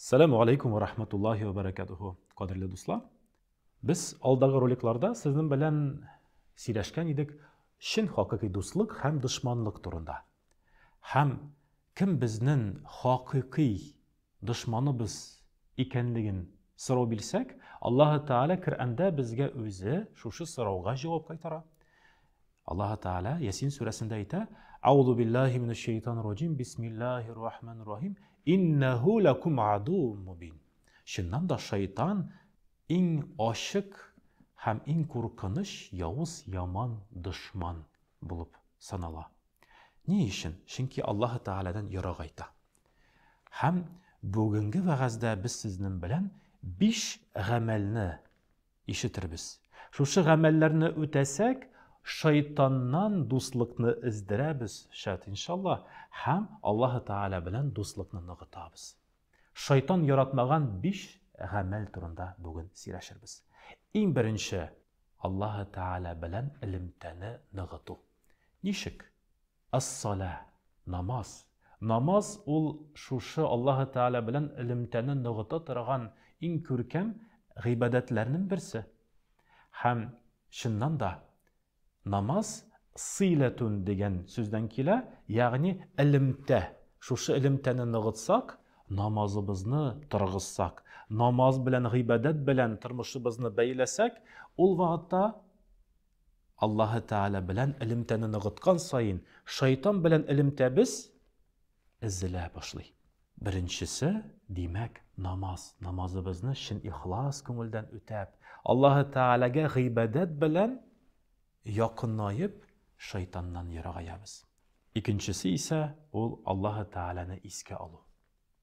Сәләму алейкум ва рахматуллахи ва баракатуху. Кадерле дуслар, без алдагы роликларда сезнең белән сөйләшкән идек чын хакыйкый дуслык һәм дошманлык турында. Һәм кем безнең хакыйкый дошманыбыз икәнлеген сорау бирсәк, Аллаһ Тәгалә Коръәндә безгә үзе шушы сорауга җавап кайтара. Аллаһы Тәгалә Ясин сүрәсендә әйтә, Аузу биллахи минәш шәйтанир раҗим, бисмиллахир рахманир рахим, иннәһу лакум адуум мубин. Чыннан да шайтан иң ачык һәм иң куркыныч явыз яман дошман булып санала. Ни өчен? Чөнки Аллаһы Тәгаләдән ерагайта. Һәм бүгенге вәгазьдә без сезнең белән биш гамәлне Ишетербез. Шушы гамәлләрне үтәсәк, шайтаннан дуслыкны эздерәбез, шат иншалла, һәм Аллаһы Тәгалә белән дуслыкны ныгытабыз. Шайтан яратмаган биш гамәл турында бүген сөйләшербез. Иң беренче, Аллаһы Тәгалә белән элемтәне ныгыту. Ничек? Ас-салә, намаз. Намаз ул шушы Аллаһы Тәгалә белән элемтәне ныгыта торган иң күркәм гыйбадәтләрнең берсе. Һәм, чыннан да, намаз сыйләтүн дигән сүздән килә, ягъни элемтә. Шушы элемтәне ныгытсак, намазыбызны торгызсак, намаз белән, гыйбадәт белән тормышыбызны бәйләсәк, ул вакытта, Аллаһы Тәгалә белән элемтәне ныгыткан саен, шайтан белән элемтәбез эзелә башлый. Беренчесе, димәк, намаз. Намазыбызны чын ихлас күңелдән үтәп, Аллаһы Тәгаләгә гыйбадәт белән якынаеп, шайтаннан ерагаябыз. Икенчесе исә ул Аллаһы Тәгаләне искә алу.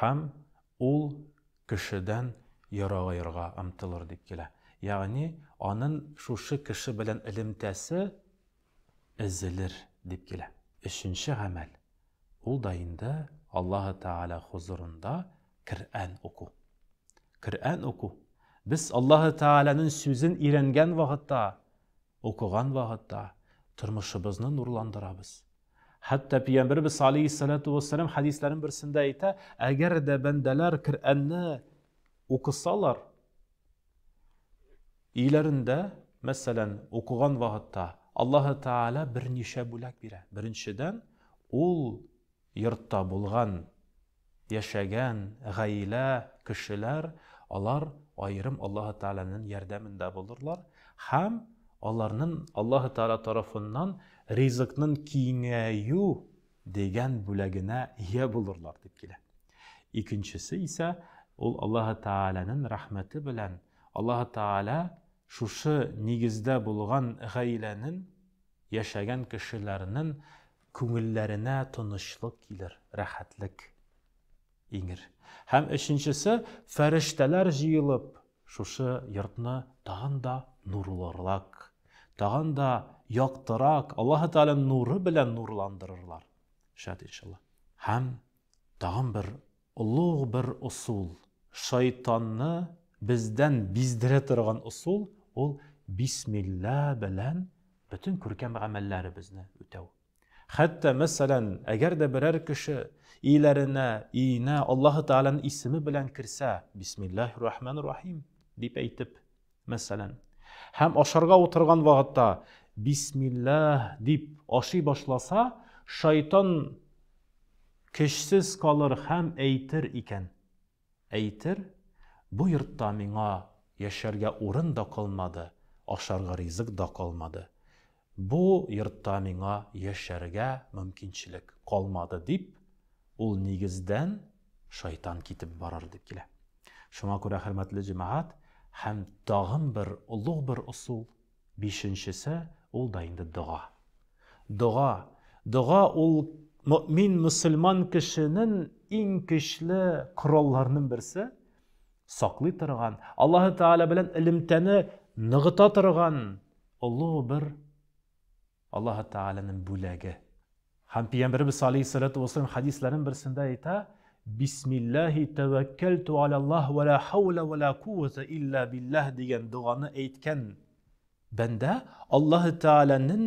Һәм ул кешедән ерагаерга омтылыр дип килә. Ягъни анын шушы кеше белән элемтәсе эзелер дип килә. Өченче гамәл, ул да инде Аллаһы Тәгалә хозурында Крәән уку. Крәән уку, без Аллаһы Тәгаләнен сүзен өйрәнгән вакытта, укыган вакытта тормышыбызны нурландырабыз. Хәтта Пиямбербез алейхиссалату вассалам хәдисләрен берсендә әйтә, әгәр дә бәндәләр Коръәнне укысалар, өйләрендә, мәсәлән, укыган вакытта Аллаһ Тааля берничә бүләк бирә. Беренчедән, ул йортта булган яшәгән гаилә, кешеләр, алар аерым Аллаһы Тәгаләнен ярдәмендә булырлар һәм аларнын Аллаһы Тәгалә тарафыннан ризыкнын киңәю дигән бүләгенә ия булырлар, дип килә. Икенчесе исә ул Аллаһы Тәгаләнен рәхмәте белән Аллаһы Тәгалә шушы нигездә булган гаиләнен, яшәгән кешеләрнен Күңелләренә тынычлык килер, рәхәтлек иңер. Һәм өченчесе, фәрештәләр җыелып, шушы йортны тагын да нурлырак, тагын да яктырак, Аллаһы Тәгалә нуры белән нурландырырлар. Шат иншалла. Һәм тагын бер Олуг бер ысул, шайтанны бездән биздерә торган ысул, ул бисмилла белән бөтен күркәм гамәлләребезне үтәү. Хәтта, мәсәлән, әгәр дә берәр кеше өйләренә, өенә Аллаһы Тәгаләнең исеме белән керсә, бисмиллаһи рахманир рахим дип әйтеп, Мәсәлән. Һәм ашарга утырган вакытта, Бисмиллаһ, дип ашый башласа, шайтан көчсез калыр һәм әйтер икән. Әйтер, Бу йортта миңа яшәргә урын да калмады, ашарга ризык да калмады. Бу йортта миңа яшәргә мөмкинчелек калмады, дип, ул нигездән шайтан китеп барыр дип килә. Шуңа күрә, хөрмәтле җәмәгать, һәм тагын бер олуг бер ысул, бишенчесе, ул да инде дога. Дога, дога ул мөмин мөселман кешенең иң көчле коралларының берсе, саклый торган, Аллаһы Тәгалә белән элемтәне ныгыта торган Олы гомер Аллаһы Тәгаләнең бүләге. Һәм Пигамбәребез алейһиссалату вәссәлам хәдисләренең берсендә әйтә, Бисмиллаһи тәвәккәлтү аляллаһ вә лә хәүлә вә лә кувәтә илля биллаһ дигән доганы әйткән бәндә Аллаһы Тәгаләнең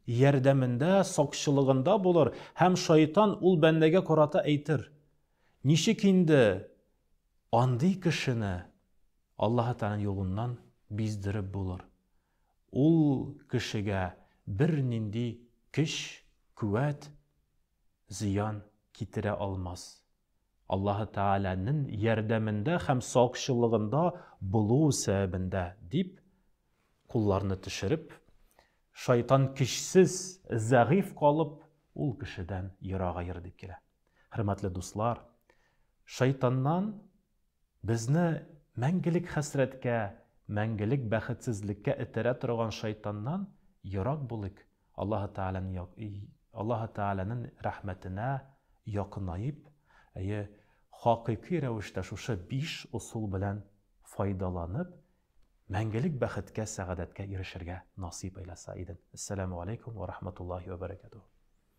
ярдәмендә, сакчылыгында булыр һәм шайтан ул бәндәгә карата әйтер, Ничек инде андый кешене Аллаһы Тәгаләнең юлыннан биздереп булыр. Ул кешегә бернинди көч, күәт, зыян китерә алмас. Аллаһы Тәгаләнең ярдәмендә һәм сакчылыгында булу сәбәбендә, дип, кулларны төшереп, шайтан көчсез, зәгыйфь калып, ул кешедән ерагаер дип килә. Хөрмәтле дуслар, шайтаннан Безне мәңгелек хәсрәткә, мәңгелек бәхетсезлеккә этәрә торган шайтаннан ерак булыйк, Аллаһы Тәгаләнең Аллаһы Тәгаләнең рәхмәтенә якынаеп, әйе, хакыйкый рәвештә шушы биш ысул белән файдаланып, мәңгелек бәхеткә, сәгадәткә ирешергә насыйп әйләсә иден. Әссәламү галәйкүм вә рахматуллаһи вә бәрәкәтүһү.